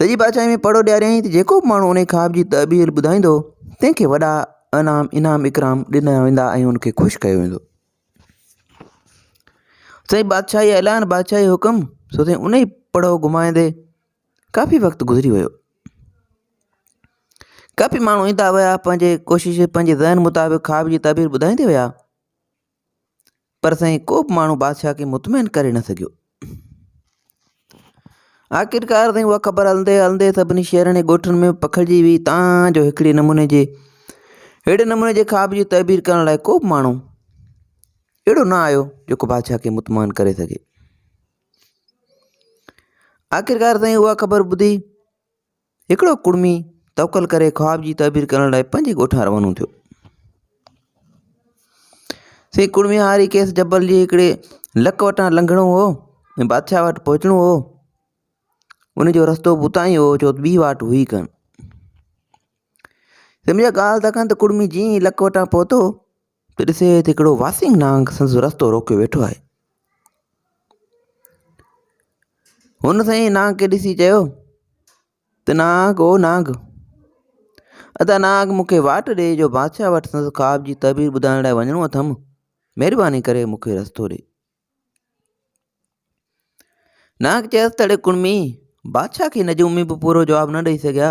سڄي بادشاهي ۾ پڙهو ڏياريائين ته جيڪو به ماڻهو انهيء خواب جي تعبير ٻڌائيندو، تنهن کي وڏا انعام انعام اڪرام ڏنا ويندا ۽ ان کي خوش ڪيو ويندو. سائين بادشاهي اعلان بادشاهي حڪم سو سائين انهي پڙهو گهمائيندي ڪافي وقت گذري ويو ڪافي ماڻهو ايندا ويا پنهنجي ڪوشش پنهنجي ذهن مطابق خواب جي تعبير ٻڌائيندي ويا پر سائين ڪو به ماڻهو بادشاهه کي مطمئن ڪري نه سگهيو. آخرڪار سائين اها خبر هلندي هلندي سڀني شهرن ۽ ڳوٺن ۾ پکڙجي ويئي تان جو هڪڙي نموني جي اهڙي نموني جي خواب جي تعبير ڪرڻ لاء ڪو به ماڻهو اهڙو نه آيو جيڪو بادشاهه کي مطمئن ڪري سگهي آخرڪار سائين اها خبر ٻڌي هڪڙو ڪڙمي توڪل ڪري خواب جي تعبير ڪرڻ لاء پنهنجي ڳوٺان روانو ٿيو. سي ڪڙمي هاري کيس جبل جي هڪڙي لڪ وٽان لنگهڻو هو ۽ بادشاهه وٽ پهچڻو هو ان جو رستو به اتان ئي هو جو ٻي واٽ هئي ڪن سمجھا ڳالهه تکن ته ڪڙمي جيئن لڪ وٽان پهتو ته ڏسي ته هڪڙو واسنگ نانگ سندس رستو روڪي ويٺو آهي. هن سائين نانگ کي ڏسي چيو ته نانگ او نانگ ادا نانگ مون کي واٽ ڏي جو بادشاهه وٽ سندس خواب جي تعبير ٻڌائڻ لاء وڃڻو اٿم مهرباني ڪري مون کي رستو ڏي نانگ چيس ته اڙي ڪڙمي بادشاهه کي نجومي به پورو جواب نه ڏئي سگهيا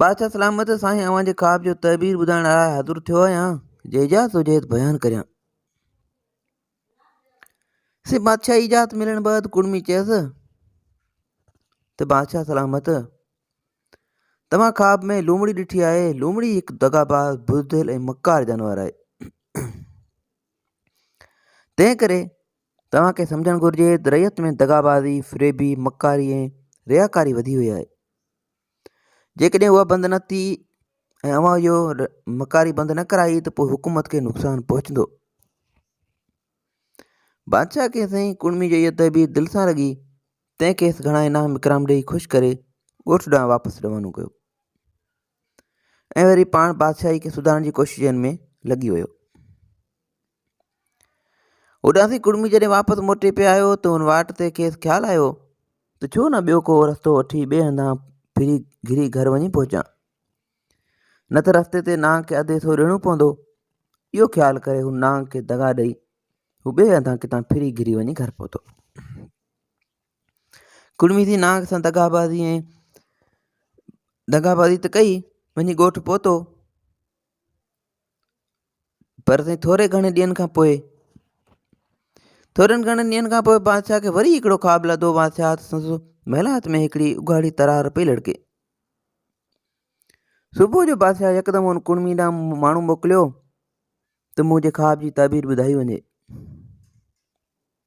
بادشاهه سلامت سائين اوهان جي خواب جو تعبير ٻڌائڻ لاء حاضر ٿيو آهيان جي اجازت هجي ته بيان ڪريان سي بادشاهه اجازت ملڻ بعد ڪڙمي چيس ته بادشاهه سلامت تمام خواب ۾ لومڙي ڏٺي آهي لومڙي هڪ دغا باز بزدل ۽ مڪار جانور آهي تنهن ڪري توهان کي سمجهڻ گهرجي ته رعيت ۾ دغابازي، فريبي، مڪاري ۽ رياڪاري وڌي وئي آهي. جيڪڏهن اها بند نه ٿي ۽ اوهان اهو مڪاري بند نه ڪرائي ته پوء حڪومت کي نقصان پهچندو. بادشاهه کي سائين ڪڙمي جو اها تهبير دل سان لڳي، تنهن کيس گهڻا انعام اڪرام ڏيئي خوش ڪري ڳوٺ ڏانهن واپس روانو ڪيو ۽ وري پاڻ بادشاهي کي سڌارڻ جي ڪوششن ۾ لڳي ويو. اڏامي ڪڙمي جڏهن واپس موٽي پئي آيو ته ان واٽ تي کيس خيال آيو ته ڇو نه ٻيو ڪو رستو وٺي ٻئي هنڌان ڦري گهري گهر وڃي پهچان نه ته رستي تي نانگ کي اڌ حصو ڏيڻو پوندو اهو خيال ڪري هو نانگ کي دغا ڏئي هو ٻئي هنڌان ڪتان ڦري گهري وڃي گهر پهتو ڪڙمي ٿي نانگ سان دغابازي ۽ دغابازي ته ڪئي وڃي ڳوٺ پهتو پر سائين ٿوري گهڻي ڏينهن کان پوء ٿورن گهڻن ڏينهن کان پوء بادشاهه کي وري هڪڙو خواب لڌو بادشاهه سندس محلات ۾ هڪڙي اگهاڙي ترار پئي لڙڪي صبح جو بادشاهه يڪدم ان ڪڙمي ڏانهن ماڻهو موڪليو ته منهنجي خواب جي تعبير ٻڌائي وڃي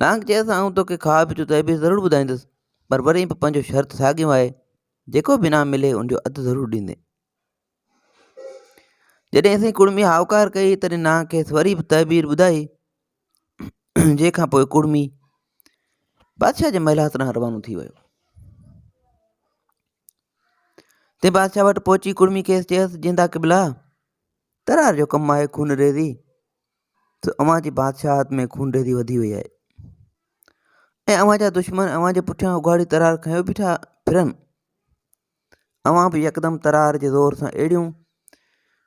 نانگ چيس، آئون توکي کاهه به چتائي به ضرور ٻڌائيندس، پر وري به پنهنجو شرط ساڳيو آهي، جيڪو به انعام ملي ان جو اڌ ضرور ڏيندين. جڏهن اسين ڪڙمي هائوڪار ڪئي تڏهن نانگ کيس وري به تعبير ٻڌائي، جنهن کان پوء ڪڙمي بادشاهه جي محلات ڏانهن روانو ٿي ويو. تي بادشاهه وٽ پهچي ڪڙمي کيس چيس، جيندا قبلا ترار جو ڪم آهي خون ريزي، ته اوهان جي بادشاهت ۾ خونريزي وڌي وئي آهي ۽ اوهان جا دشمن اوهان جي پٺيان اگهاڙي ترار کنيو بيٺا ڦرن اوهان به يڪدم ترار جي زور سان اهڙيون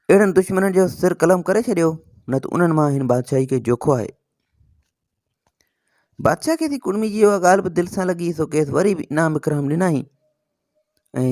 اهڙن دشمنن جو سر قلم ڪري ڇڏيو نه ته انهن مان هن بادشاهي کي جوکو آهي بادشاهه کي ٿي ڪڙمي جي اها ڳالهه به دل سان لڳي سو کيس وري به انعام اڪرام ڏنائين ۽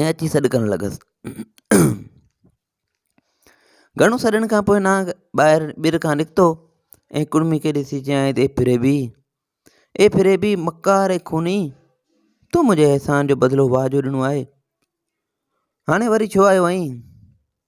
۽ اچي سڏ ڪرڻ لڳس گهڻو سڏڻ کان پوء نانگ ٻاهر ٻير کان نڪتو ۽ ڪڙمي کي ڏسي چيائين اي فريبي اي فريبي مڪار اي خوني تو منهنجي احسان جو بدلو واجهو ڏنو آهي هاڻي وري ڇو آيو آهين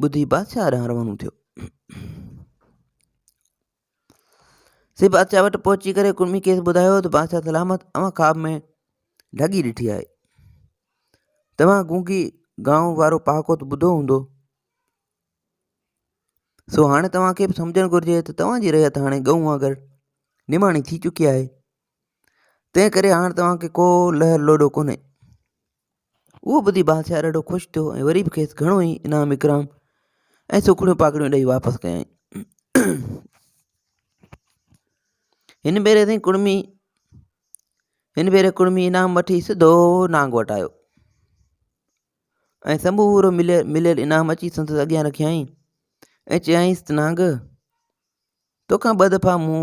ٻڌي بادشاهه ڏانهن روانو ٿيو. سي بادشاهه وٽ پهچي ڪري ڪڙمي کيس ٻڌايو ته بادشاهه سلامت اوهان خواب ۾ ڍڳي ڏٺي آهي توهان گونگي گائون وارو پهاڪو ته ٻڌو هوندو سو هاڻي توهانکي به سمجهڻ گهرجي ته توهان جي رهيت هاڻي ڳئون وانگر نماڻي ٿي چڪي آهي تنهن ڪري هاڻ توهان کي ڪو لهه لوڏو ڪونهي. اهو ٻڌي بادشاهه ڏاڍو خوش ٿيو ۽ وري به کيس گهڻو ئي انعام اڪرام ۽ سوکڙيون پاکڙيون ڏئي واپس ڪيائين. هن ڀيري سائين ڪڙمي هن ڀيري ڪڙمي انعام وٺي سڌو نانگ وٽ آيو ۽ سمورو مليل مليل انعام اچي سندس اڳيان رکيائين ۽ چيائينس ته نانگ توکان ٻه دفعا مون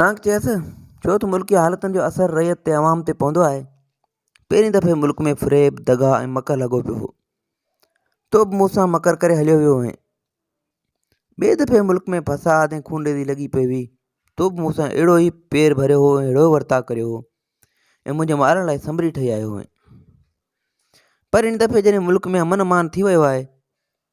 نانگ چيس، ڇو ته ملڪي حالتن جو اثر رعيت تي عوام تي پوندو آهي. پهرين دفعي ملڪ ۾ فريب، دغا ۽ مڪر لڳو پيو هو. تو به مون سان مڪر ڪري هليو ويو هئين. ٻئي دفعي ملڪ ۾ فساد ۽ خونريزي لڳي پئي هئي. تو به مون سان اهڙو ئي پير ڀريو هو ۽ اهڙو ورتاء ڪريو هو ۽ منهنجي مارڻ لاء سنبري ٺهي آيو هئين. پر هن دفعي جڏهن ملڪ ۾ امن امان ٿي ويو آهي،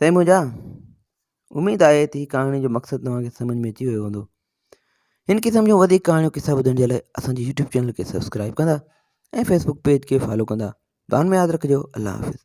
سائين منهنجا اميد آهي ته هي ڪهاڻي جو مقصد توهان کي سمجھ ۾ اچي ويو هوندو هن قسم جون وڌيڪ ڪهاڻيون قصا ٻڌڻ جي لاء اسان جي يوٽيوب چينل کي سبسڪرائب ڪندا ۽ فيسبوڪ پيج کي فالو ڪندا دعا ۾ ياد رکجو الله حافظ